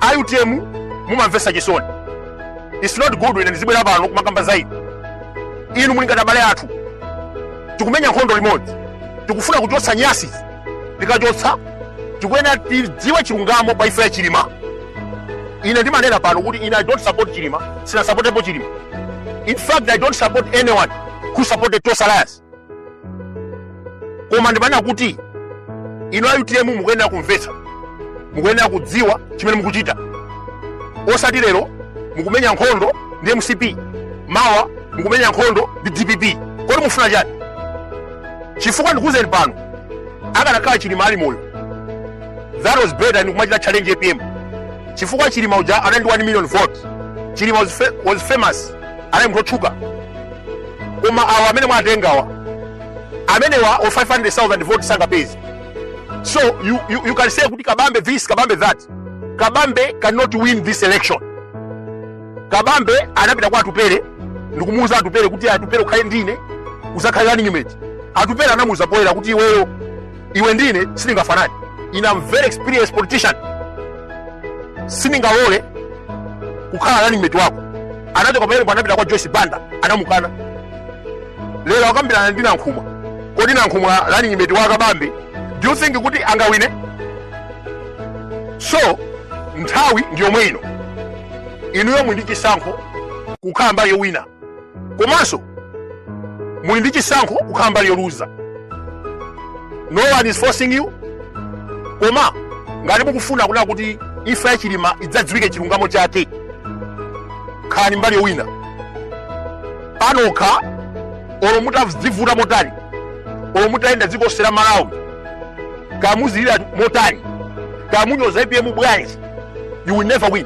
a utm mumamvetsa chisoni its not good ine ndizibwera pano kumakamba za inu inu muli ngati abale athu tikumenya nkhondo limodzi tikufuna kuchotsa nyasi tikachotsa tikuyenera tidziwe chilungamo pa imfa ya chilima ine ndimanena pano kuti ine i don't support chilima sinasapotepo chilima in fact i don't support anyone who supported tonse alliance koma ndimanena kuti inu a utm mukuyenera kumvetsa mukuyenera kudziwa chimene mukuchita osati lero mukumenya nkhondo ndi mcp mawa mukumenya nkhondo ndi dpp kodi mufuna chani chifukwa ndikuuzeni pano akanakhala chilima ali moyo that was better ndikumachita challenge apm chifukwa chilima uja anali ndi 1 million vote chilima was, fa was famous anali munthu otchuka koma awa amene mwatengawa amenewa o 500000 vote sangapeze so you, you, you can say kuti kabambe this kabambe that kabambe cannot win this election kabambe anapita kwa atupere ndikumuuza atupere kuti atupere ukhale ndine uzakhale running mate atupere anamuuza poyera kuti iweyo iwe ndine sitingafanani ine am very experienced politician sindingalole kukhala running mate wako anachoka pamenepo anapita kwa joyce banda anamukana lero akambirana ndi nankhumwa kodi nankhumwa running mate wa kabambe do you think kuti angawine so nthawi ndi yomwe ino inuyo muli ndi chisankho kukhala mbali yowina komanso muli ndi chisankho kukhala mbali yoluza no one is forcing you koma ngati mukufuna kunena kuti imfa ya chilima idzadziwike chilungamo chake khalani mbali yowina pa nokha olo mutadzivuta motani olo mutayenda dziko lonse la malawi kumazulira motani kumunyoza apm bwanji you will never win